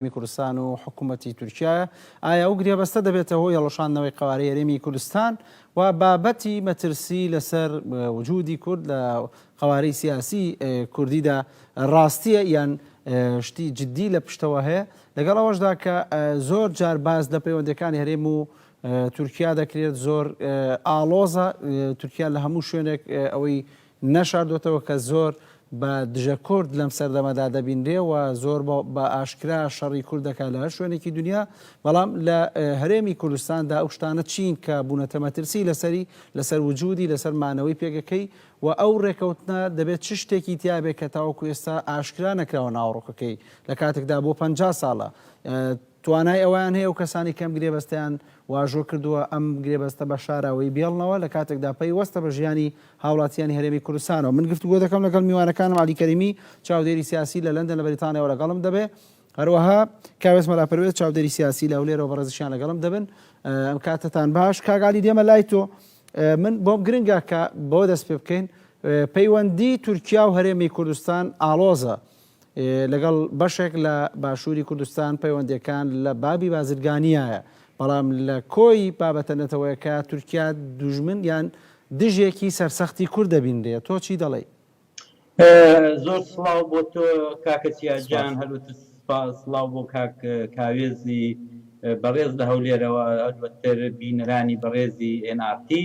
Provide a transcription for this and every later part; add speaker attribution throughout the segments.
Speaker 1: هەرێمی کوردستان و حکوومەتی تورکیایە، ئایا ئەو گرێبەستە دەبێتە هۆی هەڵوەشاندنەوەی قەوارەی هەرێمی کوردستان و بابەتی مەترسی لەسەر وجوودی کورد لە قەوارەی سیاسیی کوردیدا ڕاستییە یان شتی جددی لە پشتەوە هەیە، لەگەڵ ئەوەشدا کە زۆر جار باس لە پەیوەندییەکانی هەرێم و تورکیا دەکرێت زۆر ئاڵۆزە، تورکیا لە هەموو شوێنێک ئەوەی نەشاردۆتەوە کە زۆر بە دژە کورد لەم سەردەمەدا دەبینرێ و زۆر بە ئاشکرا شەڕی کورد دەکا لە هەر شوێنێکی دونیا، بەڵام لە هەرێمی کوردستان دا ئەو شتانە چین کە بوونەتە مەترسی لەسەری، لەسەر وجودی، لەسەر مانەوەی پێگەکەی و ئەو رێکەوتنە دەبێ چ شتێکی تیا بێ کە تاوەکو ئێستا ئاشکرا نەکراوە ناوەڕۆکەکەی لە کاتێک دا بۆ پەنجا ساڵە توانای ئەوەیان هەیە و کەسانی کەم گرێبەستیان واژۆ کردووە ئەم گرێبەستە بە شاراوەی بێڵنەوە لە کاتێک دا پەی وەستە بە ژیانی هاوڵاتیانی هەرێمی کوردستانەوە. من گفتوگۆ دەکەم لەگەڵ میوانەکانم عەلی کەریمی چاودێری سیاسی لە لەندەن لە بەریتانیاوە لەگەڵم دەبێ هەروەها کاوێس مەلا پەروێز چاودێری سیاسی لە هەولێرەوە بەڕێزیشیان لەگەڵم دەبن ئەم کاتتان باش کاک عەلی دێمە لای تۆ من بۆم گرنگە کە بۆ دەست پێ بکەین پەیوەندی تورکیا و هەرێمی کوردستان ئاڵۆزە لەگەڵ بەشێک لە باشووری کوردستان پەیوەندییەکان لە بابی بازرگانیایە، بەڵام لە کۆی بابەتە نەتەوەیەکە تورکیا دوژمن یان دژێکی سەرسەختی کورد دەبینرێ، تۆ چی دەڵێی؟
Speaker 2: زۆر سڵاو بۆ تۆ کاکە چیا گیان، هەروەتر سڵاو بۆ کاک کاوێزی بەڕێز لە هەولێرەوە، هەروەتر بینەرانی بەڕێزی ئێن ئاڕ تی.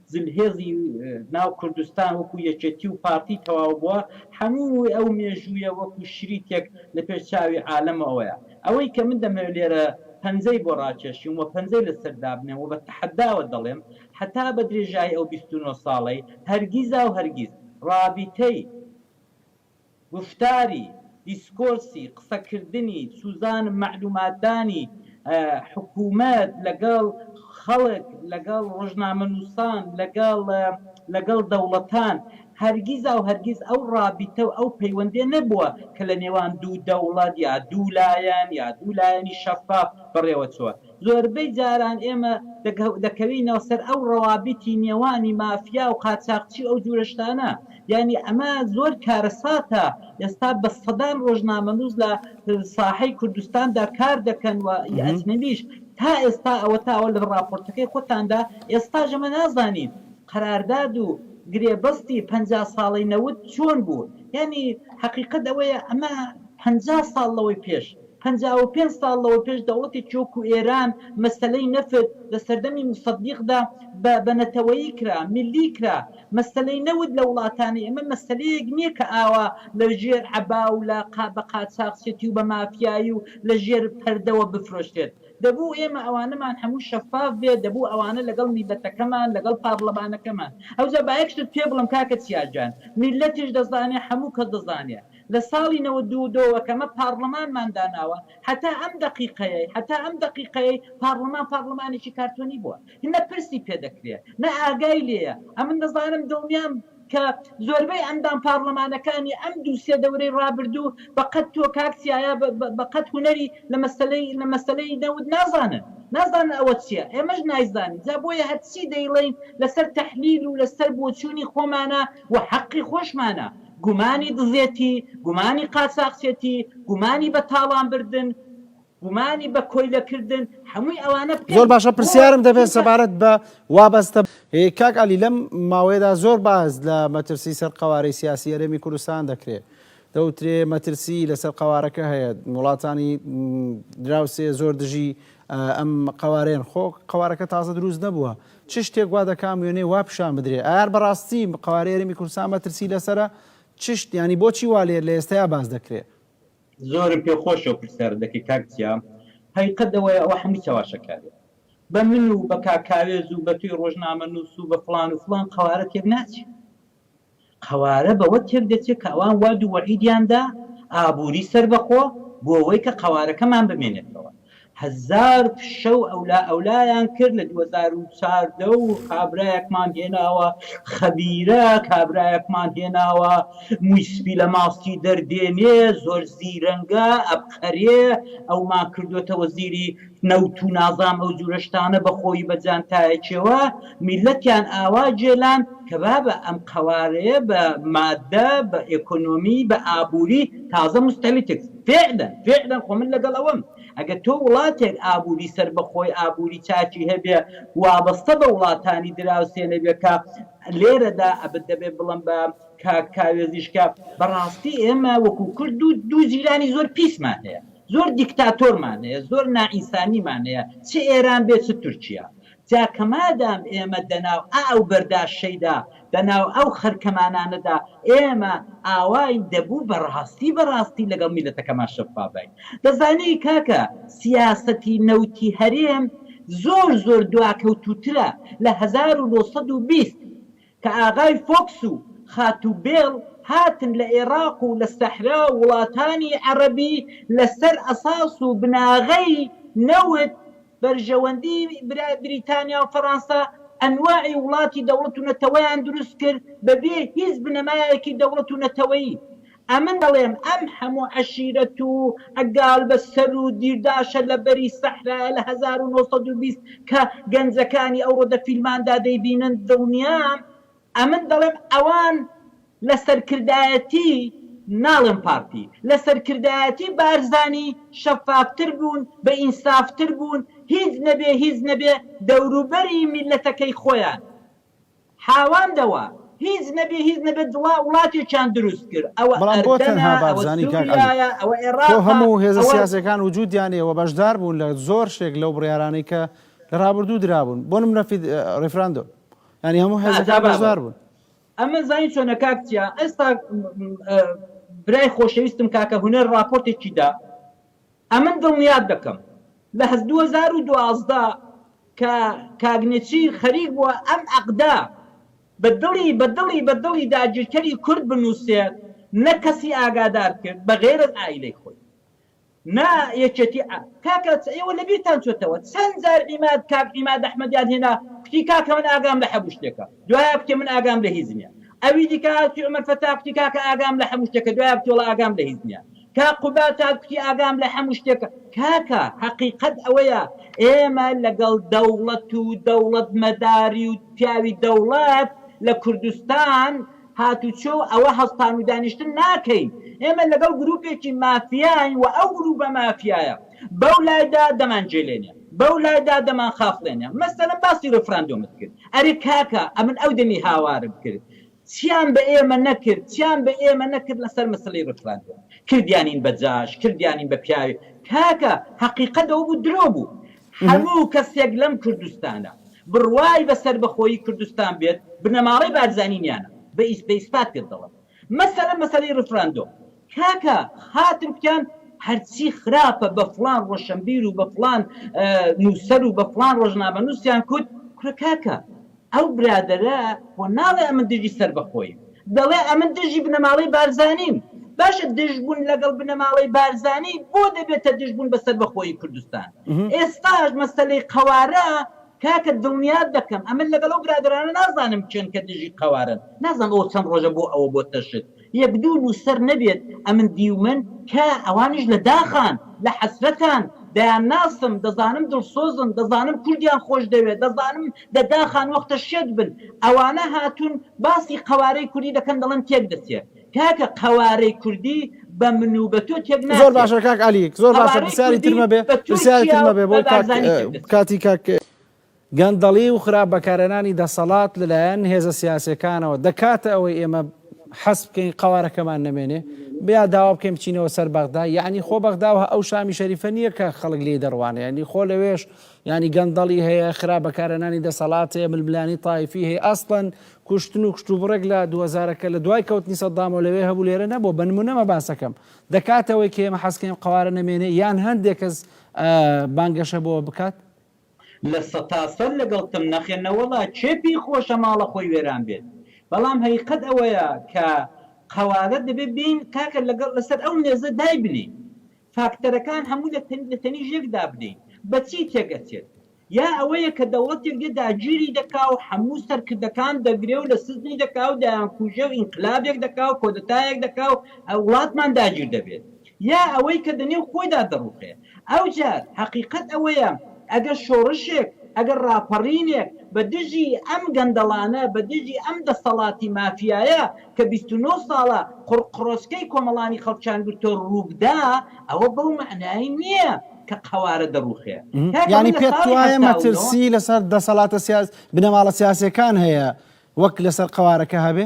Speaker 2: زلهێزی ناو کوردستان وەکو یەکێتی و پارتی تەواو بووە، هەمووی ئەو مێژوویە وەکو شریتێک لە پێش چاوی عالەمەوەیە. ئەوەی کە من دەمەوێت لێرە پەنجەی بۆ ڕاکێشم و پەنجەی لەسەر دابنێم و بە تەحەداوە دەڵێم، هەتا بە درێژایی ئەو بیست و نۆ ساڵەی، هەرگیزاو هەرگیز ڕابیتەی، گوفتاری، دیسکۆرسی، قسەکردنی، سوزان، مەعلوماتدانی، حکوومەت لەگەڵ خەڵک، لەگەڵ ڕۆژنامەنووسان، لەگەڵ لەگەڵ دەوڵەتان، هەرگیز و هەرگیز ئەو ڕابیتە و ئەو پەیوەندیە نەبووە کە لە نێوان دوو دەوڵەت یا دوو لایەن یا دوو لایەنی شەفاف بەڕێوە چووە. زۆربەی جاران ئێمە دەکەوینەوە سەر ئەو ڕەوابیتی نێوانی مافیا و قاچاخچی و ئەو جورە شتانە یانی ئەمە زۆر کارەساتە ئێستا بە سەدان ڕۆژنامەنوس لە ساحەی کوردستاندا کار دەکەن و ی ئەجنەبیش تا ئێستا ئەوەتا ئەوە لە ڕاپۆرتەکەی خۆتاندا ئێستاش ئەمە نازانین قەرارداد و گرێبەستی پەنجا ساڵەی نەوت چۆن بوو یانی حەقیقەت ئەوەیە ئەمە پەنجا ساڵ لەوەی پێش پەنجا و پێنج ساڵ لەوەپێش دەوڵەتێکی وەکو ئێران مەسەلەی نەفت لە سەردەمی موسەدیقدا بە بە نەتەوەیی کرا، میللی کرا. مەسەلەی نەوت لە وڵاتانی ئێمە مەسەلەیەک نییە کە ئاوا لە ژێر عەبا و لە قا بە قاچاخچێتی و بە مافیایی و لە ژێر پەردەوە بفرۆشرێت. دەبوو ئێمە ئەوانەمان هەموو شەفاف بێت، دەبوو ئەوانە لەگەڵ میللەتەکەمان، لەگەڵ پارڵمانەکەمان. ئەوجا با یەک شتت پێ بڵێم کاکە چیا گیان، میللەتیش دەزانێ، هەموو کەس دەزانێ. لە ساڵی نەوەد و دوو ەوە کەمە پاڕڵمانمان داناوە هەتا ئەم دەقیقەیەی هەتا ئەم دەقیقەیەی پاڕڵمان پاڕڵمانێکی کارتۆنی بووە نە پرسی پێ دەکرێ نە ئاگای لێیە ئەمن دەزانم دڵنیام کە زۆربەی ئەندام پاڕڵمانەکانی ئەم دوو سێ دەورەی ڕابردوو بە قەد تۆ کاک سیایا بە قەد هونەری لە مەسەلەی لە مەسەلەی نەوت نازانن نازانن ئەوە چیە ئێمەش نایزانین جا بۆیە هەرچی دەیڵێین لەسەر تەحلیل و لەسەر بۆچوونی خۆمانە و حەقی خۆشمانە گومانی دزێتی، گومانی قاچاخچێتی، گومانی بە تاڵان بردن، گومانی بە کۆیلە کردن هەمووی ئەوانە بکەین. زۆر باشە پرسیارم
Speaker 1: دەبێت سەبارەت بە وابەستە. کاک عەلی لەم ماوەیەدا زۆر باس لە مەترسی سەر قەوارەی سیاسی هەرێمی کوردستان دەکرێت. دەوترێ مەترسی لەسەر قەوارەکە هەیە وڵاتانی دراوسێ زۆر دژی ئەم قەوارەیەن خۆ قەوارەکە تازە دروست نەبووە چ شتێک وا دەکام وێنەی وا پیشان بدرێ؟ ئایار بەڕاستی قەوارەی هەرێمی کوردستان مەترسی لەسەرە؟ چ شت یانی بۆچی وا لە ئێستەیا باس دەکرێ؟ زۆرم پێ
Speaker 2: خۆشە ئەو پرسیارە دەکەی کاک جیا، هەقیقەت ئەوەیە ئەوە هەمووی چەواشەکاریە. بە من و بە کاک کاوێز و بە تۆی ڕۆژنامەنووس و بە فڵان و فڵان قەوارە تێک ناچێ. قەوارە بەوە تێک دەچێت کە ئەوان وەعد و وەعیدیان دا ئابووری سەربەخۆ بۆ ئەوەی کە قەوارەکەمان بمێنێتەوە هەزار فشە و ئەولا ئەولایان کرد لە دوو هەزار و چاردە و کابرایەکمان هێناوە خەبیرە کابرایەکمان هێناوە مووی سپی لە ماستی دەردێنێ زۆر زیرەنگە ئەبقەرێ ئەومان کردۆتە وەزیری نەوت و نازام ئەو جورە شتانە بە خۆیی بە جانتایەکیەوە میلەتیان ئاوا جێلان کە بابە ئەم قەوارەیە بە مادە بە ئێکۆنۆمی بە ئابوری تازە مستەلیتک فعلا فعلا خۆ من لەگەڵ ئەوەم ئەگەر تۆ وڵاتێک ئابوری سەربەخۆی ئابوری چاکی هەبێ وابەستە بە وڵاتانی دراوسێ نەبێ کە لێرەدا ئەبت دەبێ بڵەم بە کاک کاوێزیش کە بەڕاستی ئێمە وەکو کورد دوو دوو جیرانی زۆر پیسمان هەیە زۆر دیکتاتۆرمان هەیە زۆر نائینسانیمان هەیە چ ئێران بێ چ تورکیا جا کە مادام ئێمە دەناو ئا و بەردا شەیدا دەناو ئەو خەرکەمانانەدا ئێمە ئاواین دەبوو بە ڕاستی بە ڕاستی لەگەڵ میلەتەکەمان شەفاف باین دەزانی کاکە سیاسەتی نەوتی هەرێم زۆر زۆر دواکەوتووترە لە هەزار و نۆ سەد و بیست کە ئاغای فۆکس و خاتوو بێڵ هاتن لە ئێڕاق و لە سەحرا و وڵاتانی عەڕەبی لە سەر ئەساس و بناغەی نەوت، بەرژەوەندی بریتانیا و فەڕانسە، ئەنواعی وڵاتی دەوڵەت و نەتەوەیان دروست کرد بە بێ هیچ بنەمایەکی دەوڵەت و نەتەوەیی. ئەمن ئەڵێم ئەم هەموو عەشیرەت و عەگال بە سەر و دیرداشە لە بەری سەحرایە لە هەزار و نۆ سەد و بیست کە گەنجەکانی ئەوڕۆ دە فیلماندا دەیبینن دڵنیام ئەمن دەڵێم ئەوان لە سەرکردایەتی ناڵێم پارتی لە سەرکردایەتی بارزانی شەفاف تر بوون بە ئینساف تر بوون هیچ نەبێ هیچ نەبێ دەوروبەری میلەتەکەی خۆیان حاواندەوە هیچ نەبێ هیچ نەبێ دڵا وڵاتێکیان دروست کرد ئەوە بەڵام بۆ ئەردەنە تەنها ئەوە
Speaker 1: بارزانی کاک عەلی سوریایە ئەوە خۆ ئێڕاقە هەموو هێزە ئەوە سیاسیەکان وجودیان هەیە و بەشدار بوون لە زۆر شتێک لەو بڕیارانەی کە لە رابردوو درابوون بۆ نمونە فید ریفراندۆم یانی هەموو ها جا هێزەکان بابە بەشدار بوون. ئەمە زانی
Speaker 2: چۆنە کاک چیا ئێستا م، م، ئە، برای خۆشەویستم کاکە هونەر راپۆرتێکی دا ئەمن دڵنیات دەکەم لە هەز دوو هەزار و دوازدە کە کاک نێچیر خەریک بووە ئەم عەقدە بە دڵی بە دڵی بە دڵی داگیرکەری کورد بنووسێت نە کەسی ئاگادار کرد بە غەیر از عائیلەی خۆی نە یەکێتی ئا کاکە چ ئێوە لە بیرتان چۆتەوە چەن جار عیماد کاک عیماد ئەحمەدیان هێنا کوتی کاکە من ئاگام لە حەموو شتێکە دوایە کوتی من ئاگام لە هیچ نیە ئەوی دیکە هاتی عومەر فەتا کوتی کاکە ئاگام لە حەموو شتێکە دوایە کوتی وەڵا ئاگام لە هیچ نیە کا قوباد تا کوتی ئاگام لە حەموو شتێکە کاکە حەقیقەت ئەوەیە ئێمە لەگەڵ دەوڵەت و دەوڵەت مەداری و پیاوی دەوڵەت لە کوردستان هاتوچۆ و ئەوە هەڵتان و دانیشتن ناکەین ئێمە لەگەڵ گروپێکی مافیاین و ئەو گروپە مافیایە بەو لایدا دەمان جێلێنێ بەو لایدا دەمان خافڵێنێ مەسەلەن باسی ریفراندۆمت کرد ئەرێ کاکە ئەمن ئەو دەمی هاوارم کرد چیان بە ئێمە نەکرد چیان بە ئێمە نەکرد لەسەر مسلی رفراندۆم کردیانین بە جاش کردیانین بە پیاوی کاکە هەقیقەت ئەوە بوو درۆ بوو هەموو کەسێک لەم کوردستانە بڕوای بە سەربەخۆیی کوردستان بێت بنەماڵەی بارزانی نیانە بە ئیسپات پێت دەڵێم مەسەلە مەسەلەی رفراندۆم کاکە خاتر کوتیان هەرچی خراپە بە فڵان ڕۆشەنبیر و بە فڵان نووسەر و بە فڵان ڕۆژنامەنووسیان کوت، کورە کاکە ئەو برادەرە خۆ ناڵێ ئەمن دژی سەربەخۆییم، دەڵێ ئەمن دژی بنەماڵەی بارزانیم، باشە دژبوون لەگەڵ بنەماڵەی بارزانی بۆ دەبێتە دژبوون بە سەربەخۆیی کوردستان؟ ئێستاش مەسەلەی قەوارە کاکە دڵنیات دەکەم ئەمن لەگەڵ ئەو برادەرانە نازانم کێن کە دژی قەوارەن، نازانم ئەوە چەند ڕۆژە بۆ ئەوە بۆتە شت، یەک دوو نووسەر نەبێت ئەمن دیومن کە ئەوانیش لە داخان، لە حەسرەتان، دەیانناسم، دەزانم دڵسۆزن، دەزانم کوردیان خۆش دەوێت، دەزانم لە داخان وەختە شێت بن، ئەوانە هاتوون باسی قەوارەی کوردی دەکەن دەڵێن تێک دەچێت. کاکە قەوارەی کوردی بە من و بە تۆ تێک زۆر ناچێت. باشە کاک عەلی زۆر
Speaker 1: باشە قەوارەی پرسیاری تر کوردی مەبێ بە پرسیاری تر تورکیا و مەبێ بە بۆی کاک بارزانی تێک دەچێت. کاتی کاک. گەندەڵی و خراپ بەکارهێنانی دەسەڵات لەلایەن هێزە سیاسیەکانەوە دەکاتە ئەوەی ئێمە حەز بکەین قەوارەکەمان نەمێنێ بیا داوا بکەین بچینەوە سەر بەغدا یعنی خۆ بەغدا و ئەو شامی شەریفە نییە کە خەڵک لێی دەڕوانێ یعنی خۆ لەوێش یعنی گەندەڵی هەیە خراپ بەکارهێنانی دەسەڵات هەیە ململانی تایفی هەیە ئەسڵەن کوشتن و کشتوبڕێک لە دووەزارەکە لە دوای کەوتنی سەددامەوە لەوێ هەبوو لێرە نەبوو بە نمونەمە باسەکەم دەکاتەوەی کە ئێمە حەزکەین قەوارە نەمێنێ یان هەندێک کەس بانگەشە بۆ بکات لە
Speaker 2: سەتاسەر لەگەڵتم نەخێر نەوەڵا کێ پێی خۆشە ماڵە خۆی وێران بێت بەڵام هەقیقەت ئەوەیە کە قەوارە دەبێت بێین کاکە لەگەڵ لەسەر ئەو مێزە دایبنێین فاکتەرەکان هەموو لە تەنی لە تەنیش یەک دابنێین بە چی تێکئەچێت یا ئەوەیە کە دەوڵەتێک دێ داگیری دەکا و هەموو سەرکردەکان دەگرێ و لە سجنی دەکا و دەیانکوژێ و ئینقلابێک دەکا و کۆدەتایەک دەکا و وڵاتمان داگیر دەبێت یا ئەوەی کە دەنێو خۆیدا دەڕوخێ. ئەوجار هەقیقەت ئەوەیە ئەگەر شۆڕشێک، ئەگەر ڕاپەڕینێک بە دژی ئەم گەندەڵانە، بە دژی ئەم دەسەڵاتی مافیایە کە بیست و نۆ ساڵە قوڕقڕۆچکەی کۆمەڵانی خەڵکیان گرتۆ ڕووبدا، ئەوە بەو مەعنایەی نییە کە قەوارە دەڕوخێ. کاکە من یانی لە پێت
Speaker 1: ساڵی وایە هەفتا و نۆ. مەترسی لەسەر دەسەڵاتە سیاس، بنەماڵە سیاسیەکان هەیە وەک لەسەر قەوارەکە هەبێ؟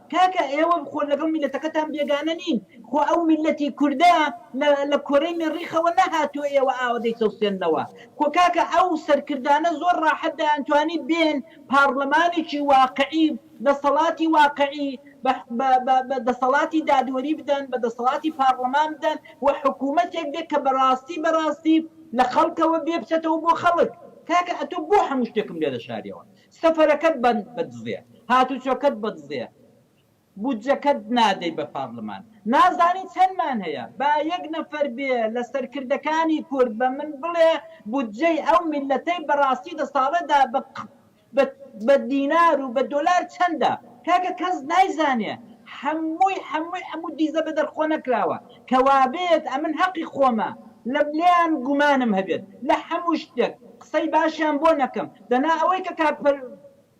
Speaker 2: کاکە ئێوە خۆ لەگەڵ میلەتەکەتان بێگانە نین خۆ ئەو میلەتی کوردە لە لە کۆرەی مێڕیخەوە نەهاتوە ئێوە ئاوە دەیچەوسێننەوە خۆ کاکە ئەو سەرکردانە زۆر ڕاحەت دەیانتوانی بێن پاڕلمانێکی واقعی دەسەڵاتی واقعی بە بە بە بە دەسەڵاتی دادوەری بدەن بە دەسەڵاتی پاڕلمان بدەن و حکومەتێک بێ کە بەڕاستی بەڕاستی لە خەڵکەوە بێ بچەتەوە بۆ خەڵک کاکە ئەتۆ بۆ هەموو شتێکم لێ دەشاریەوە سەفەرەکەت بەدزێ هاتوچۆکەت بەدزێ بودجەکەت نادەی بە پارلمان نازانی چەندمان هەیە با یەک نەفەر بێ لە سەرکردەکانی کورد بە من بڵێ بودجەی ئەو میللەتەی بەراستی دە ساڵەدا بە بە دینار و بە دۆلار چەندە کاکە کەس نایزانێ هەمووی هەمووی هەموو دیزە بە دەرخۆ نەکراوە کە وابێت ئەمن هەقی خۆمە لە لێیان گومانم هەبێت لە هەموو شتێک قسەی باشیان بۆ نەکەم دەنا ئەوەی کە کاک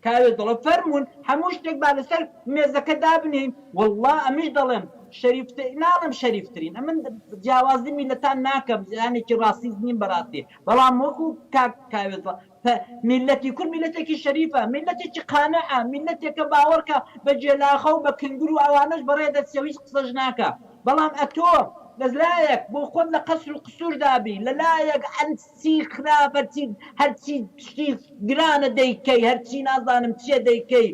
Speaker 2: کاوێ دەڵێ فەرموون هەموو شتێک با لەسەر مێزەکە دابنێین وەڵڵا ئەمنیش دەڵێم شەریف تە ناڵێم شەریف ترین ئەمن جیاوازی میللەتان ناکەم جیهانێکی ڕاسیست نیم بەڕاستی بەڵام وەکوو کاک کاوێ دڵ پە میللەتی کورد میللەتێکی شەریفە میللەتێکی قانعە میللەتێکە باوەڕکە بە جێلاخە و بە کنگر و ئەوانەش بەڕێ دەچێ و هیچ قسەش ناکا بەڵام ئەتۆ لە لایەک بۆ خۆت لە قەسر و قسور دابی لە لایەک چی خراپە چی هەرچی شتی گرانە دەیکەی هەرچی نازانم چیە دەیکەی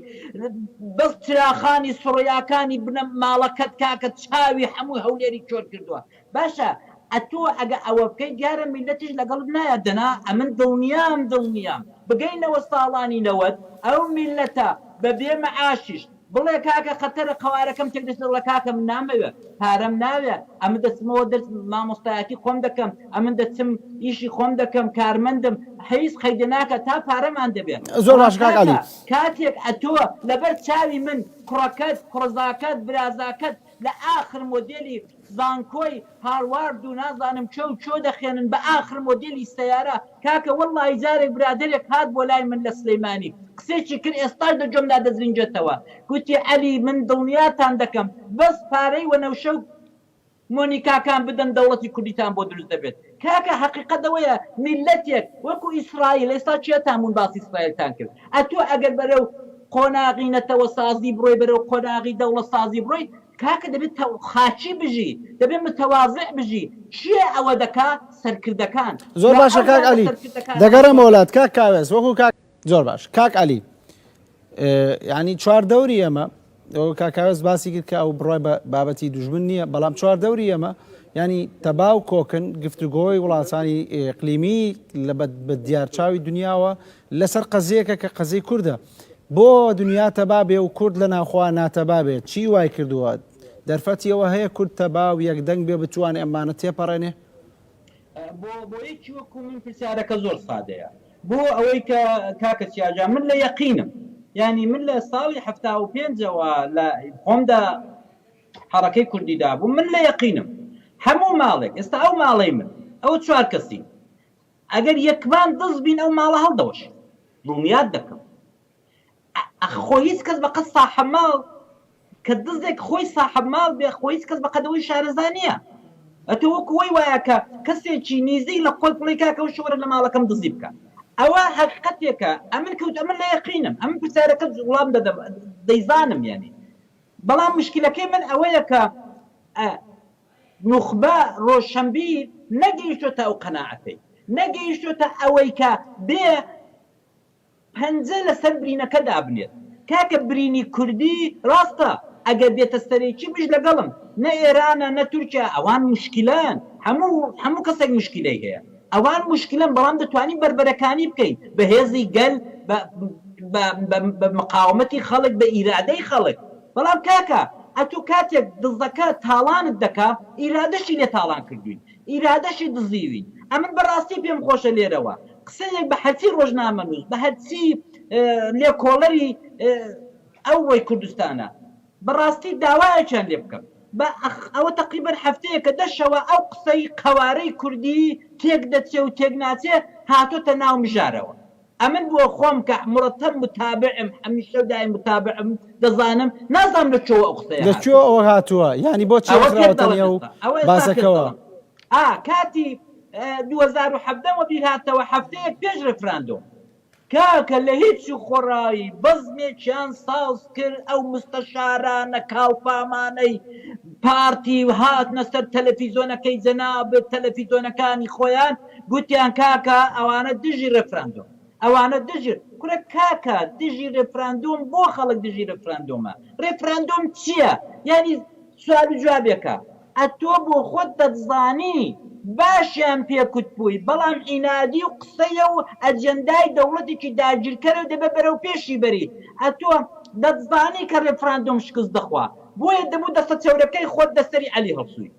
Speaker 2: بەس چراخانی سڕیاکانی بنە ماڵەکەت کاکە چاوی حەموی هەولێری کۆر کردوە باشە ئەتۆ ئەگە ئەوە بکەی دیارە میلەتیش لەگەڵت نایات دەنا ئەمن دڵنیام دڵنیام بگەینەوە ساڵانی نەوەد ئەو میلەتە بەبێ معاشیش بڵێ کاکە قەتەرە قەوارەکەم چەک دەشێت بڵێ کاکە من نامەوێ پارەم ناوێ ئەمن دەچمەوە دەرس مامۆستایەتی خۆم دەکەم ئەمن دەچم ئیشی خۆم دەکەم کارمەندم حیز قەیدە ناکا تا پارەمان دەبێ زۆر بەڵام باشە کاک کاکە عەلی.
Speaker 1: کاتێک ئەتۆ
Speaker 2: لەبەر چاوی من کوڕەکەت کوڕەزاکەت برازاکەت لە ئاخر مۆدێلی زانکۆی هاروارد و نازانم کوێ و کوێ دەخوێنن بە ئاخر مۆدێلی سەیارە کاکە وەڵڵاهی جارێک برادەرێک هات بۆ لای من لە سلێمانی قسێکی کرد ئێستاش لە گوێم دا دەزرینجێتەوە گوتی عەلی من دڵنیاتان دەکەم بەس پارەی وەنەوشە و مۆنیکاکان بدەن دەوڵەتی کوردیتان بۆ دروست دەبێت کاکە هەقیقەت ئەوەیە میللەتێک وەکو ئیسرائیل ئێستا کێتان بوون باسی ئیسرائیلتان کرد ئەتوو ئەگەر بەرەو قۆناغی نەتەوەسازی بڕۆی بەرەو قۆناغی دەوڵەت سازی بڕۆی کاکە دەبێ تە خاکی بژی دەبێ متواضع بژی کێ ئەوە دەکا سەرکردەکان زۆر جا باشە ئەو کاک
Speaker 1: لاوە عەلی سەرکردەکان ئەوە دەگەڕێمەوە چۆن لات کاک کاوێس وەکو کاک زۆر باش کاک عەلی اه، یعنی چوار دەوری ئێمە ئەو کاک کاوێس باسی کرد کە ئەو بڕای بە بابەتی دوژمن نییە بەڵام چوار دەوری ئێمە یعنی تەبا و کۆکن گفتوگۆی وڵاتانی اه، اقلیمی لە بە بە دیارچاوی دنیاوە لەسەر قەزیەکە کە قەزیی کوردە بۆ دنیا تەبا بێ و کورد لە ناوخۆا ناتەبا بێ چی وای کردووە؟ دەرفەتی ئەوە هەیە کورد تەبا و یەکدەنگ بێ بتوانێ ئەمانە تێپەڕێنێ؟
Speaker 2: بۆ بۆ یەکی وەکو من پرسیارەکە زۆر سادەیە بۆ ئەوەی کە کاکە چیاجان من لە یەقینم یانی من لە ساڵی حەفتا و پێنج ەوە لە خۆمدا حەڕەکەی کوردی دابووم من لە یەقینم هەموو ماڵێک ئێستا ئەو ماڵەی من ئەوە چوار کەسین ئەگەر یەکمان دز بین ئەو ماڵە هەڵدەوەشین دڵنیات دەکەم خۆ هیچ کەس بەقەد ساحەب ماڵ کە دزێک خۆی ساحەب ماڵ بێ خۆ هیچ کەس بەقەدەوەی شارەزا نییە ئەتۆ وەکو وەی وایە کە کەسێکی نیزیک لە خۆت بڵێی کاکە وشە وەرە لە ماڵەکەم دزی بکە ئەوە هەقیقەتێکە ئەمن کەوت ئەمن لە یەقینم ئەمن پرسیارەکەت وڵام دەدەم دەیزانم یانی بەڵام مشکلەکەی من ئەوەیە کە نوخبە ڕۆشەنبیر نەگەیشتۆتە ئەو قەناعەتەی، نەگەیشتۆتە ئەوەی کە بێ پەنجە لەسەر برینەکە دابنێت. کاکە برینی کوردی ڕاستە ئەگەر دێتە سەرێ چی بژ لەگەڵم نە ئێرانە نە تورکیا ئەوان موشکیلەن هەموو هەموو کەسێک موشکیلەی هەیە ئەوان موشکیلەن بەڵام دەتوانی بەربەرەکانی بکەی بە هێزی گەل بە بە بە مقاومەتی خەڵک بە ئیرادەی خەڵک بەڵام کاکە ئەتو کاتێک دزەکە تاڵانت دەکا ئیرادەشی لێ تاڵان کردوین ئیرادەشی دزیوین ئەمن بەڕاستی پێم خۆشە لێرەوە قسەیەک بە هەرچی ڕۆژنامەنوس بە هەرچی لێکۆڵەری ئەوڕۆی کوردستانە بەڕاستی داوایەکیان لێ بکەم بە ئەخ ئەوە تەقریبەن هەفتەیەکە دە شەوە ئەو قسەی قەوارەی کوردی تێک دەچێ و تێک ناچێ هاتۆتە ناو مژارەوە. ئەمن بۆ خۆم کە مرتب متابعم هەمیشە و دایم متابعم دەزانم نازانم لە کوێوە ئەو قسەیە هاتووە. لە کوێوە ئەوە هاتووە
Speaker 1: یانی بۆ چیە خراوەتە نێو باسەکەوە. ئا
Speaker 2: کاتی دوو هەزار و حەڤدە م وەبیر هاتەوە هەفتەیەک پێش ریفراندۆم. کاکە لە هیچ و خۆڕایی بەزمێکیان ساز کرد ئەو مستەشارانە کاڵفامانەی پارتی هاتنە سەر تەلەفیزۆنەکەی جەنابت تەلەفیزۆنەکانی خۆیان گوتیان کاکە ئەوانە دژی ڕێفراندۆم ئەوانە دژی کورە کاکە دژی ڕێفراندۆم بۆ خەڵک دژی ڕێفراندۆمە ڕێفراندۆم چیە یانی سوال و جوابێکە ئەتۆ بۆ خۆت دەتزانی باشیان پێ کوتبووی بەڵام عینادی و قسەیە و ئەجێندای دەوڵەتێکی داگیرکەرە و دەبێ بەرەو پێشی بەریت ئەتۆ دەتزانی کە ڕێفراندۆم شکست دەخوا بۆیە دەبوو دەستە چەورەکەی خۆت لەسەری عەلی هەڵسووی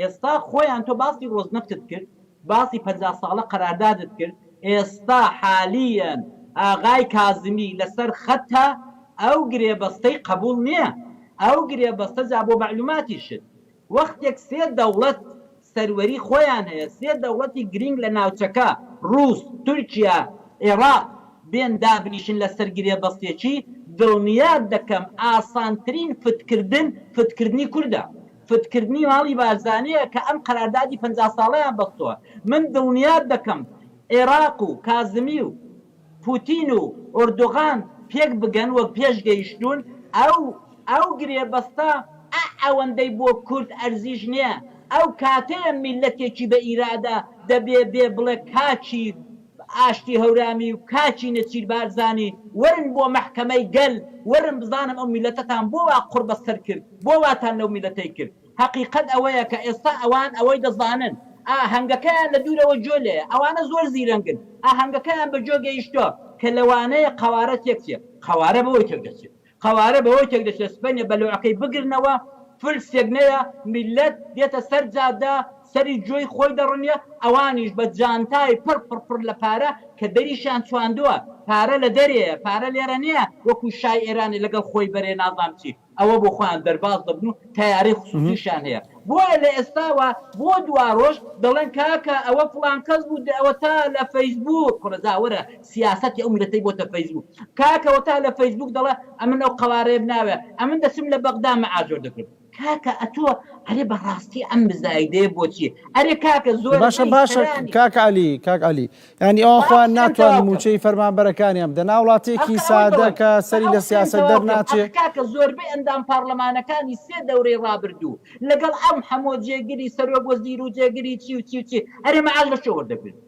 Speaker 2: ئێستا خۆیان تۆ باسی ڕۆزنەفتت کرد باسی پەنجا ساڵە قەراردادت کرد ئێستا حالیەن ئاغای کازمی لەسەر خەتە ئەو گرێبەستەی قەبوڵ نیە ئەو گرێبەستە جا بۆ مەعلوماتیشت وەختێک سێ دەوڵەت سەروەری خۆیان هەیە سێ دەوڵەتی گرینگ لە ناوچەکە ڕوس تورکیا ئێڕاق بێن دابنیشن لەسەر گرێبەستێکی دڵنیات دەکەم ئاسانترین فتکردن فتکردنی کوردە. فدکردنی ماڵی بارزانیە کە ئەم قەراردادی پەنجا ساڵەیان بەستوە من دڵنیات دەکەم عێراق و کازمی و پوتین و ئۆردوغان پێک بگەن وەک پێش گەیشتون ئەو ئەو گرێبەستە ئە ئەوەندەی بۆ کورد ئەرزیش نیە ئەو کاتەیە میلەتێکی بە ئیرادە دەبێ بێ بڵێ کاکی ئاشتی هەورامی و کاکی نێچیر بارزانی وەرن بۆ مەحکەمەی گەل وەرن بزانم ئەو میلەتەتان بۆ وا قوڕ بە سەر کرد بۆ واتان لەو میلەتەی کرد هەقیقەت ئەوەیە کە ئێستا ئەوان ئەوەی دەزانن ئا هەنگەکەیان لە دوورەوە جۆ لێیە ئەوانە زۆر زیرەنگن ئا هەنگەکەیان بە جۆ گەیشتوە کە لەوانەیە قەوارە تێک چێت قەوارە بەوەی تێک دەچێت قەوارە بەوەی تێک دەچێت سبەینێ بەلوعەکەی بگرنەوە فلسێک نەیە میللەت دێتە سەر جادە سەری جۆی خۆی دەڕنیە ئەوانیش بە جانتای پڕ پڕ پڕ لە پارە کە دەریشیان چواندوە پارە لە دەرێیە پارە لێرە نیە وەکو شای ئێرانێ لەگەڵ خۆی بەرێ نازام چی ئەوە بۆ خۆیان دەرباز دەبن و تەیارەی خسوسیشیان هەیە بۆیە لە ئێستاوە بۆ دوارۆژ دەڵێن کاکە ئەوە فڵان کەس بوو دە ئەوە تا لە فەیسبووک کورە جا وەرە سیاسەتی ئەو میلەتەی بۆتە فەیسبوک کاکە وە تا لە فەیسبوک دەڵێ ئەمن ئەو قەوارەیەم ناوێ ئەمن دەچم لە بەغدا مەئاجۆر دەکرم کاکە ئەتۆ ئەرێ بە ڕاستی ئەم مزایدەیە بۆ چیە ئەرێ کاکە زۆر باشە باشە کاک
Speaker 1: علی کاک علی یانی ئەوان خۆیان ناتوان موچەی فەرمانبەرەکانیان بدە نا وڵاتیەکی سادە کە سەری لە سیاسەت دەر ناچێ کاکە زۆربەی ئەندام
Speaker 2: پارلەمانەکانی سێ دەورەی ڕابردوو لەگەڵ ئەم حەمۆ جێگری سەرۆک وەزیرو جێگری چی و چی و چی ئەرێ مەعاش لە کوێ وەردەگرن.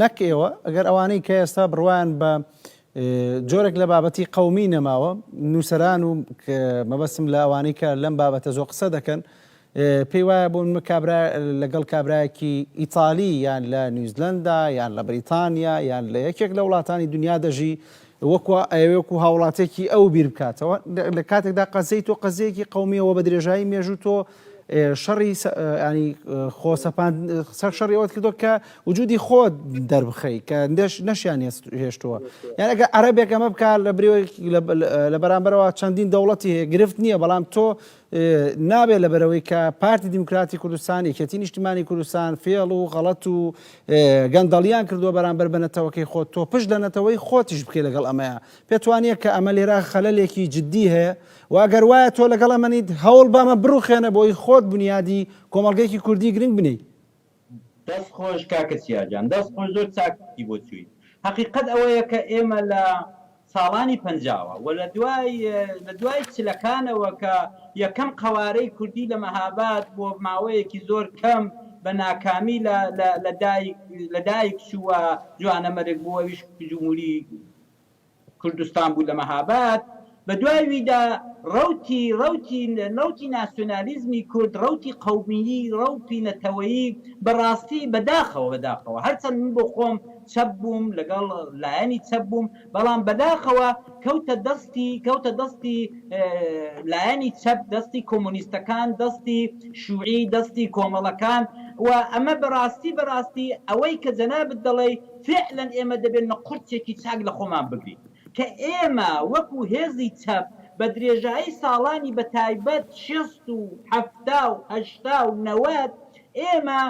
Speaker 1: نەک ئێوە، ئەگەر ئەوانەی کە ئێستا بڕوایان بە جۆرێک لە بابەتی قەومی نەماوە، نووسەران و مەبەستم لە ئەوانەی کە لەم بابەتە زۆر قسە دەکەن، پێی وایە بوون کابرا لەگەڵ کابراایەکی ئیتالی یان لە نیوزلەندا یان لە بریتانیا یان لە یەکێک لە وڵاتانی دنیا دەژی، وەکو ئەیەوێ وەکو هاوڵاتێکی ئەو بیر بکاتەوە لە کاتێکدا قەزەی تۆ قەزەیەکی قومیە وە بە درێژایی مێژوو تۆ شەڕی ینی خۆسەپان سەر شەڕی ئەوت کردو کە وجودی خۆت دەربخەی کە دەش نەشیان هێشتووە یان ئەگە عربێک ئەمە بکە لە برێوەی لە بەرامبەرەوە چەندین دەوڵەتی هەیە گرفت نییە بەڵام تۆ نابێت لەبەرەوەی کە پارتی دیموکراتی کوردستان یەکێتی نیشتمانی کوردستان فێڵ و غەڵەت و گەندەڵیان کردووە بەرامبەر بە نەتەوەکەی خۆت تۆ پشت لە نەتەوەی خۆتیش بکەی لەگەڵ ئەمەیە پێت وانە کە ئەمە لێرە خەلەلێکی جددی هەیە و ئەگەر وایە تۆ لەگەڵ ئەمەنیت هەوڵ بەمە بڕوخێنە بۆی خۆت بنیادی کۆمەڵگەیەکی کوردی گرنگ بنێی دەست
Speaker 2: خۆش کاکە سیا جان. دەست خۆش زۆر چاک گوتی بۆ چوویت. هەقیقەت ئەوەیە کە ئێمە لە ساڵانی پەنجاوە و لە دوای لە دوای چلەکانەوە کە یەکەم قەوارەی کوردی لە مەهاباد بۆ ماوەیەکی زۆر کەم بە ناکامی لە لە لە دایک لە دایک چوو و جوانەمەرگ بوو ئەویش جمهوری کوردستان بوو لە مەهاباد، بە دوای ویدا ڕەوتی ڕەوتی ڕەوتی ناسیۆنالیزمی کورد، ڕەوتی قەومیی، ڕەوپی نەتەوەیی، بە ڕاستی بە داخەوە بە داخەوە، هەر چەند من بۆ خۆم چەپ بووم، لەگەڵ لایەنی چەپ بووم، بەڵام بە داخەوە کەوتە دەستی کەوتە دەستی لایەنی چەپ، دەستی کۆمۆنیستەکان، دەستی شووعی، دەستی کۆمەڵەکان و ئەمە بە ڕاستی بە ڕاستی ئەوەی کە جەنابت دەڵێی، فیعلەن ئێمە دەبێنمە قورتێکی چاک لە خۆمان بگرین کە ئێمە وەکو هێزی چەپ بە درێژایی ساڵانی بە تایبەت شێست و حەفتا و هەشتا و نەوەد ئێمە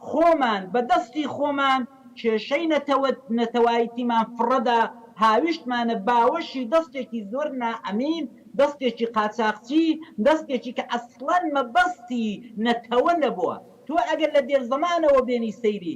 Speaker 2: خۆمان بە دەستی خۆمان کێشەی نەتەوە نەتەوایتیمان فڕەدا هاویشتمانە باوەشی دەستێکی زۆر نائەمین دەستێکی قاچاخچی دەستێکی کە ئەسڵەن مەبەستی نەتەوە نەبووە تۆ ئەگەر لە دێرزەمانەوە بێنی سەیری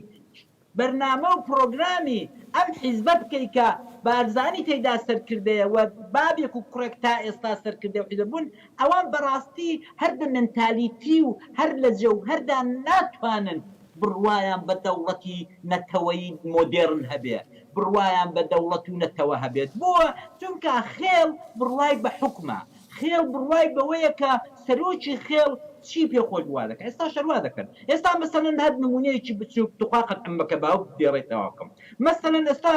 Speaker 2: بەرنامە و پڕۆگرامی ئەم حیزبە بکەی کە بارزانی تێیدا سەرکردەیە و بابێک و کوڕێک تا ئێستا سەرکردەی ئەو حیزبە بوون، ئەوان بەڕاستی هەر بە مێنتالیتی و هەر لە جەوهەردا ناتوانن بڕوایان بە دەوڵەتی نەتەوەی مۆدێڕن هەبێ، بڕوایان بە دەوڵەت و نەتەوە هەبێت. بۆ؟ چونکا خێڵ بڕوای بە حوکمە. خێڵ بڕوای بەوەیە کە سەرۆکی خێڵ چی پێ خۆش بوو وا دەکا ئێستاش هەر وا دەکەن ئێستا مەسەلەن هەر نموونەیەکی بچووک توخوا قەت عەممە کەباوک دێڕێی تەواو بکەم مەسەلەن ئێستا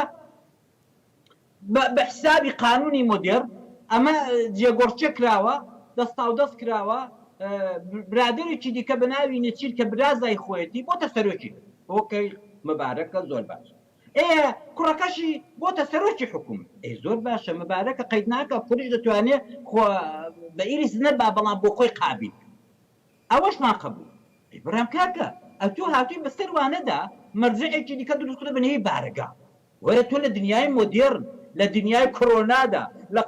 Speaker 2: بە بە حسابی قانوونی مۆدێڕ ئەمە جێگۆڕکێ کراوە دەستاودەست کراوە برادەرێکی دیکە بە ناوی نێچیر کە برازای خۆیەتی بۆتە سەرۆکی هۆکەی مەبارەکە زۆر باشە ئێ کوڕەکەشی بۆتە سەرۆکی حکومت. ئەی زۆر باشە مبارەکە قەید ناکا کوڕیش دەتوانێ خۆ بە ئیرث نەبا بەڵام بۆ خۆی قابیل بێ ئەوەشمان قبوڵە. ئەی برام کاکە ئەتوو هاتووی بەسەر وانەدا مەرجەعێکی دیکە دروست کردوە بە نێوی بارەگا وەرە تۆ لە دنیای مۆدێڕن لە دنیای کۆرۆنادا لە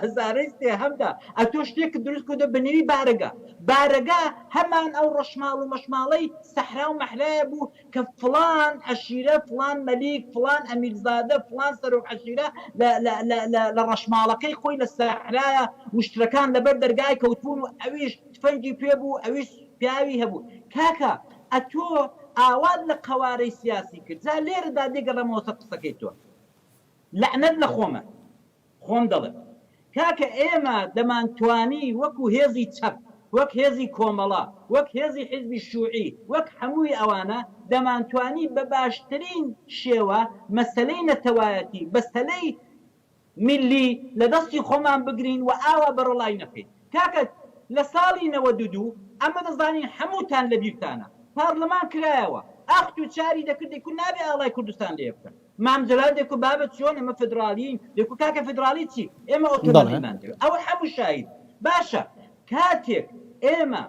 Speaker 2: هەزارەی سێهەمدا ئەتۆ شتێکت دروست کردوە بە نێوی بارەگا بارەگا هەمان ئەو ڕەشماڵ و مەشماڵەی سەحرا و مەحرایە بوو کە فڵان عەشیرە، فڵان مەلیک، فڵان ئەمیرزادە، فڵان سەرۆک عەشیرە لە لە لە لە لە ڕەشماڵەکەی خۆی لە سەحرایە و شترەکان لە بەر دەرگای کەوتبوون و ئەویش تفەنگی پێ بوو، ئەویش پیاوی هەبوو. کاکە ئەتۆ ئاوات لە قەوارەی سیاسی کرد. جا لێرەدا دێگەڕێمەوە سەر قسەکەی تۆ. لەعنەت لە خۆمە. خۆم دەڵێم کاکە ئێمە دەمانتوانی وەکو هێزی چەپ، وەک هێزی کۆمەڵە، وەک هێزی حیزبی شوعی، وەک هەمووی ئەوانە دەمانتوانی بە باشترین شێوە مەسەلەی نەتەوایەتی، بەسەلەی میللی لە دەستی خۆمان بگرین و ئاوا بەڕەڵای نەکەین. کاکە لە ساڵی نەوەد و دوو ئەمە دەزانین هەمووتان لە بیرتانە پارلمان کرایەوە ئاخ توچاری دەکردی کورد نابێ ئاڵای کوردستان لێ بکەن. مام جەلال دەکو بابە چۆن ئێمە فیدراڵیین؟ دەکو کاکە فیدراڵی چی؟ ئێمە ئۆتۆنۆمیمان دەوێت. ئەوە حەموو شاهید. باشە کاتێک ئێمە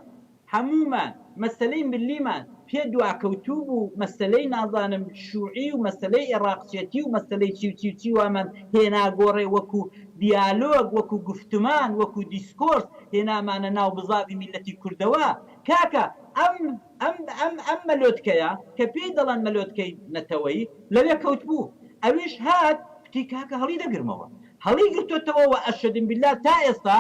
Speaker 2: حەموومان مەسەلەی ملیمان پێ دواکەوتوو بوو، مەسەلەی نازانم شووعی و مەسەلەی ئێڕاقچێتی و مەسەلەی چی و چی و چی وامان هێنا گۆڕێ وەکو دیالۆگ، وەکو گوفتمان، وەکو دیسکۆرس هێنامانە ناو بزاڤی میللەتی کوردەوە. کاکە ئەم. ئەم ئەم ئەم مەلۆتکەیە کە پێی دەڵێن مەلۆتکەی نەتەوەیی لەوێ کەوتبوو ئەویش هات کوتی کاکە هەڵی دەگرمەوە هەڵی گرتۆتەوە وە ئەشەدم بیلا تا ئێستا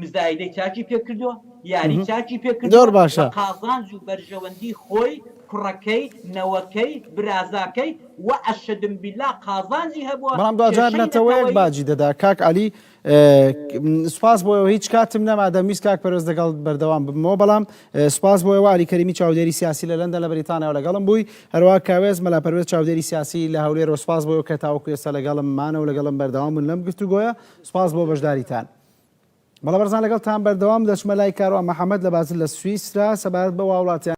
Speaker 2: مزایدەی چاکی پێ کردوە یاری چاکی پێ کردوە بە قازانج و
Speaker 1: بەرژەوەندی
Speaker 2: خۆی کوڕەکەی نەوەکەی برازاکەی وە ئەشەدم بیلا قازانجی هەبوە بەڵام دواجار نەتەوەیەک
Speaker 1: باجی دەدا کاک عەلی سپاس بۆ هیچ کاتم نەما دەمویست کاک پەرۆز دەگەڵ بەردەوام ببمەوە بەڵام سپاس بۆ واری کەریمی چاودێری سیاسی لە لەندە لە بریتانیا لەگەڵم بووی هەروە کاوێز مەلا پەروێز چاودێری سیاسی لە هەولێر و سپاس بۆ کە تاوەکو ئێستا لەگەڵم مانەوە لەگەڵم بەردەوام بوون لەم گفتوگۆیە سپاس بۆ بەشداریتان. بەڵام بەرزان لەگەڵ تان بەردەوام دەچمە لای کاروان محەممەد لە بازل لە سویسرا سەبارەت بە واوڵاتیان